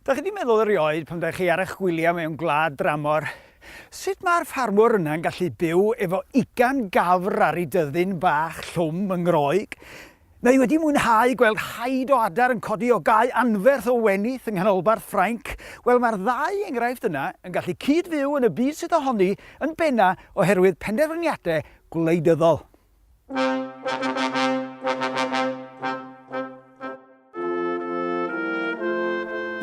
Dach chi wedi meddwl erioed pan dach chi ar eich gwyliau mewn gwlad dramor, sut mae'r ffarmwr yna yn gallu byw efo ugain gafr ar ei dyddyn bach llwm yng Ngroeg? Mae wedi mwynhau gweld haid o adar yn codi o gae anferth o wenith yng nghanolbarth Ffrainc? Wel, mae'r ddau enghraifft yna yn gallu cyd-fyw yn y byd sydd ohoni yn benna' oherwydd penderfyniadau gwleidyddol.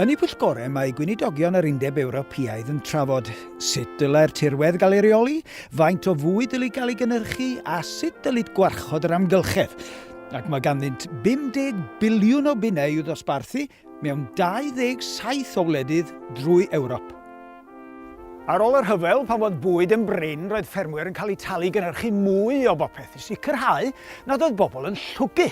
Yn y pwyllgorau mae Gweinidogion yr Undeb Ewropeaidd yn trafod sut dylai'r tirwedd gael ei reoli, faint o fwyd dylid gael ei gynnyrchu a sut dylid gwarchod yr amgylchedd. Ac mae ganddynt 50 biliwn o bunnau i'w ddosbarthu mewn 27 o wledydd drwy Ewrop. Ar ôl y rhyfel, pan fodd bwyd yn brin, roedd ffermwyr yn cael eu talu i gynhyrchu mwy o bopeth i sicrhau nad oedd bobl yn llwgu.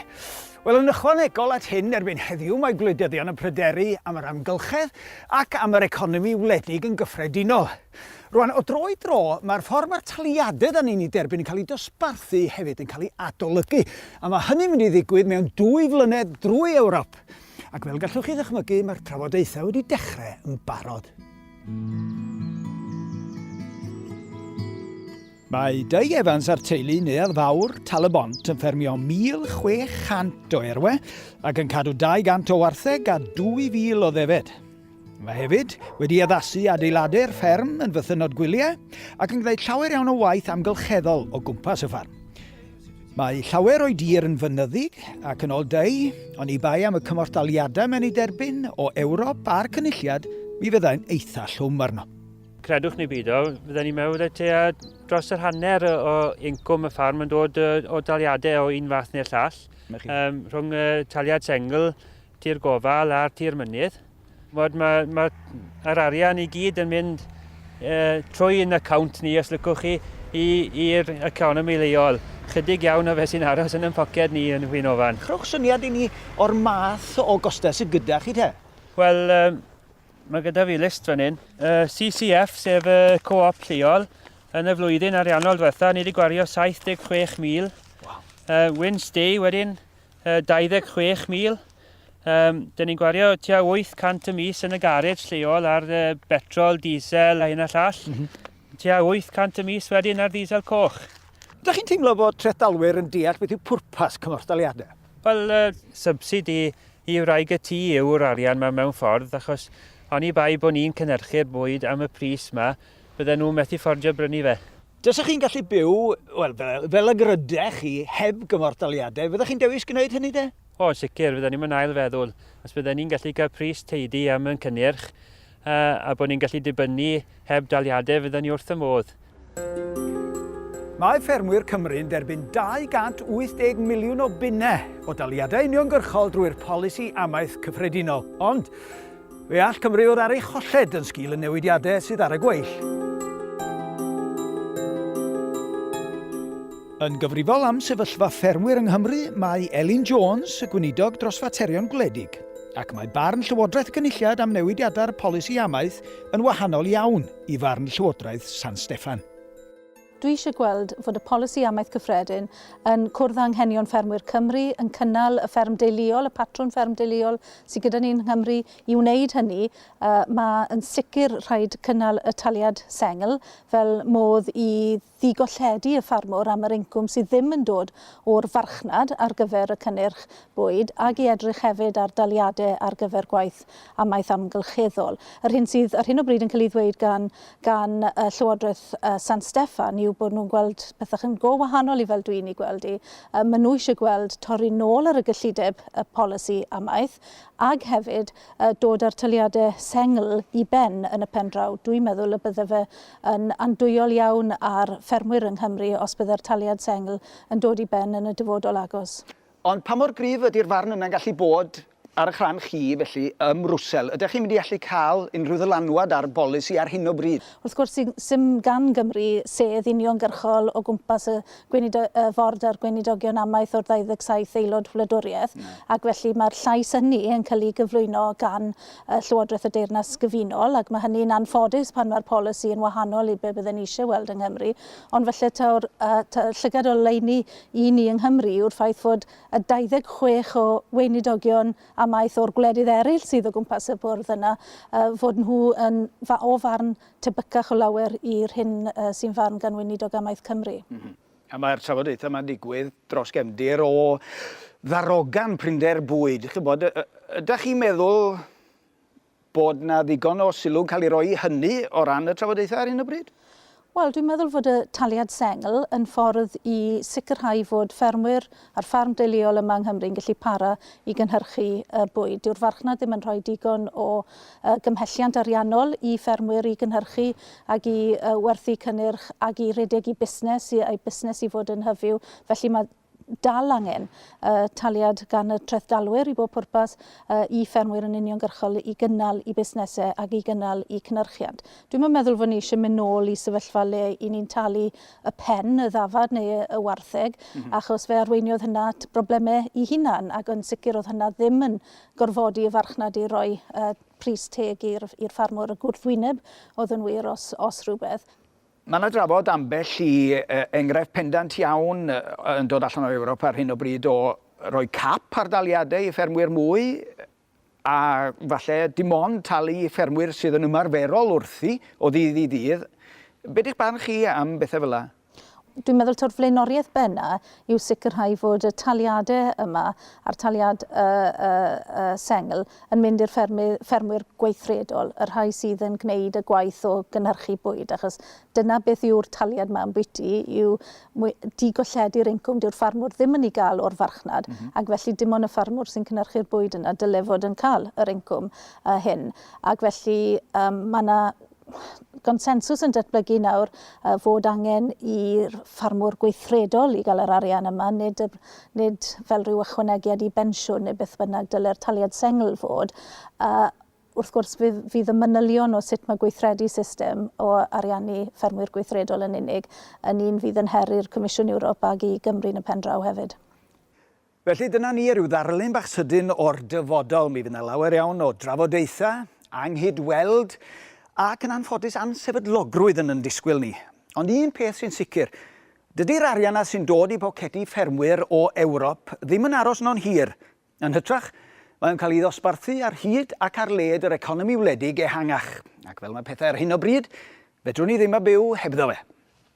Wel, yn ychwanegol at hyn, erbyn heddiw mae gwleidyddion yn pryderu am yr amgylchedd ac am yr economi wledig yn gyffredinol. Rwan, o dro i dro, mae'r ffordd mae'r taliadau dan ni'n ei derbyn yn cael ei dosbarthu hefyd yn cael ei adolygu, a mae hynny'n mynd i ddigwydd mewn dwy flynedd drwy Ewrop. Ac fel gallwch chi ddychmygu, mae'r trafodaethau wedi dechrau yn barod. Mae Doug Evans a'r teulu Neuadd Fawr Tal-y-bont yn ffermio 1,600 o erwe ac yn cadw 200 o wartheg a 2,000 o ddefed. Mae hefyd wedi addasu adeiladu'r fferm yn fythynnod gwyliau ac yn gwneud llawer iawn o waith amgylcheddol o gwmpas y ffarm. Mae llawer o'i dir yn fynyddig ac yn ol deu, ond i bai am y cymorthdaliadau mae'n ei derbyn o Ewrop a'r Cynulliad, mi fyddai'n eitha llwm arno. Credwch neu beidio, fydden ni'n meddwl y tua dros yr hanner o incwm y ffarm yn dod o daliadau o un fath neu'r llall, rhwng y taliad sengl, tir gofal a'r tir mynydd. Fod mae, mae yr arian i gyd yn mynd uh, trwy yn account ni, os lycwch chi, i'r economi leol. Chydig iawn o fe sy'n aros yn yn poced ni yn hwyn ofan. Rhowch syniad i ni o'r math o gostau sydd gyda chi te? Wel, um, mae gyda fi list fan hyn. Uh, CCF, sef y uh, co-op lleol, yn y flwyddyn ariannol diwetha, ni wedi gwario 76,000. Wow. Uh, Win Stay wedyn, 26,000. Um, Dyn ni'n gwario tua 800 y mis yn y garej lleol ar uh, betrol, diesel a hyn a llall. Mm -hmm. Tua 800 y mis wedyn ar diesel coch. Ydych chi'n teimlo bod trethdalwyr yn deall beth yw pwrpas cymorthdaliadau? Wel, uh, subsidi i wraig y tŷ yw'r arian mae mewn ffordd, achos oni bai bod ni'n cynhyrchu'r bwyd am y pris yma, bydden nhw'n methu ffordio brynu fe. Tasech chi'n gallu byw, wel, fel y grydech chi, heb gymorthdaliadau, fyddech chi'n dewis gwneud hynny de? O, yn sicr, fydden ni'm yn ail feddwl. Os bydden ni'n gallu cael pris teidi am yn cynnyrch, a bod ni'n gallu dibynnu heb daliadau, fydden ni wrth y modd. Mae ffermwyr Cymru'n derbyn 280 miliwn o bunnau o daliadau uniongyrchol drwy'r polisi amaeth cyffredinol, ond Fe all Cymru fod ar ei cholled yn sgil y newidiadau sydd ar y gweill. Yn gyfrifol am sefyllfa ffermwyr yng Nghymru mae Elin Jones, y Gweinidog dros Faterion Gwledig, ac mae barn Llywodraeth y Cynulliad am newidiadau'r polisi amaeth yn wahanol iawn i farn Llywodraeth San Steffan. Dwi eisiau gweld fod y Polisi Amaeth Cyffredin yn cwrdd â anghenion ffermwyr Cymru, yn cynnal y fferm deuluol, y patrwn fferm deuluol sydd gyda ni yng Nghymru. I wneud hynny, mae yn sicr rhaid cynnal y taliad sengl fel modd i ddigolledu y ffarmwr am yr incwm sydd ddim yn dod o'r farchnad ar gyfer y cynnyrch bwyd ac i edrych hefyd ar daliadau ar gyfer gwaith amaeth amgylcheddol. Yr hyn sydd ar hyn o bryd yn cael ei ddweud gan gan Llywodraeth San Steffan yw bod nhw'n gweld pethau yn go wahanol i fel dwi'n ei gweld hi. Maen nhw eisiau gweld torri nôl ar y gyllideb y polisi amaeth ac hefyd dod â'r taliadau sengl i ben yn y pen draw. Dwi'n meddwl y bydde fe yn andwyol iawn ar ffermwyr yng Nghymru os bydde'r taliad sengl yn dod i ben yn y dyfodol agos. Ond pa mor gryf ydy'r farn yna'n gallu bod ar y'ch rhan chi, felly, ym Mrwsel? Ydych chi'n mynd i allu cael unrhyw ddylanwad ar bolisi ar hyn o bryd? Wrth gwrs, 'sdim gan Gymru sedd uniongyrchol o gwmpas y Ford a'r Gweinidogion amaeth o'r 27 aelod wladwriaeth, ac felly mae'r llais hynny yn cael ei gyflwyno gan Llywodraeth y Deyrnas Gyfunol, ac mae hynny'n anffodus pan mae'r polisi yn wahanol i be bydden ni eisiau weld yng Nghymru. Ond falle taw'r llygad oleuni i ni yng Nghymru yw'r ffaith fod y 26 o weinidogion amaeth o'r gwledydd eraill sydd o gwmpas y bwrdd yna, fod nhw yn, o farn tebycach o lawer i'r hyn sy'n farn gan Weinidog Amaeth Cymru. A mae'r trafodaethau yma'n digwydd dros gefndir o ddarogan prinder bwyd. Chi'n gwybod, ydych chi'n meddwl Bod 'na ddigon o sylw'n cael ei roi i hynny o ran y trafodaethau ar hyn o bryd? Wel, dwi'n meddwl fod y taliad sengl yn ffordd i sicrhau fod ffermwyr a'r ffarm deuluol yma yng Nghymru'n gallu para i gynhyrchu y bwyd. Dyw'r farchnad ddim yn rhoi digon o gymhelliant ariannol i ffermwyr i gynhyrchu ac i werthu cynnyrch ac i redeg i busnes, i eu busnes i fod yn hyfyw. Felly mae dal angen y taliad gan y trethdalwyr i bob pwrpas i ffermwyr yn uniongyrchol i gynnal i busnesau ac i gynnal i cynyrchiant. Dwi'm yn meddwl fod ni eisiau mynd nôl i sefyllfa le i ni'n talu y pen, y ddafad neu y wartheg achos fe arweiniodd hynna at broblemau i hunan ac yn sicr oedd hynna ddim yn gorfodi y farchnad i roi pris teg i'r ffarmwr, y gwrthwyneb oedd yn wir os rhywbeth. Mae yna drafod ambell i enghraifft pendant iawn yn dod allan o Ewrop ar hyn o bryd o roi cap ar daliadau i ffermwyr mwy a falle dim ond talu i ffermwyr sydd yn ymarferol wrthi o ddydd i ddydd. Be di'ch barn chi am bethau fel yna? Dwi'n meddwl taw'r flaenoriaeth bena yw sicrhau fod y taliadau yma, a'r taliad sengl, yn mynd i'r ffermwyr gweithredol, y rhai sydd yn gwneud y gwaith o gynhyrchu bwyd, achos dyna beth yw'r taliad yma ambwyty, yw digolledu'r incwm, dyw'r ffarmwr ddim yn ei gael o'r farchnad, ac felly dim ond y ffarmwr sy'n cynhyrchu'r bwyd yna dyle fod yn cael yr incwm hyn. Ac felly, mae 'na gonsensws yn datblygu nawr fod angen i'r ffarmwr gweithredol i gael yr arian yma, nid, nid fel rhyw ychwanegiad i bensiwn neu beth bynnag dylai'r taliad sengl fod. A wrth gwrs fydd, fydd y manylion o sut mae gweithredu system o ariannu ffermwyr gweithredol yn unig yn un fydd yn her i'r Comisiwn Ewrop ag i Gymru yn y pen draw hefyd. Felly dyna ni, ryw ddarlun bach sydyn o'r dyfodol. Mi fydd 'na lawer iawn o drafodaethau, anghyd-weld, ac yn anffodus ansefydlogrwydd yn yn disgwyl ni. Ond un peth sy'n sicr, dydi'r arian 'na sy'n dod i bocedi ffermwyr o Ewrop ddim yn aros yno'n hir. Yn hytrach, mae o'n cael ei ddosbarthu ar hyd ac ar led yr economi wledig ehangach. Ac fel mae pethau ar hyn o bryd, fedrwn ni ddim a byw hebddo fe.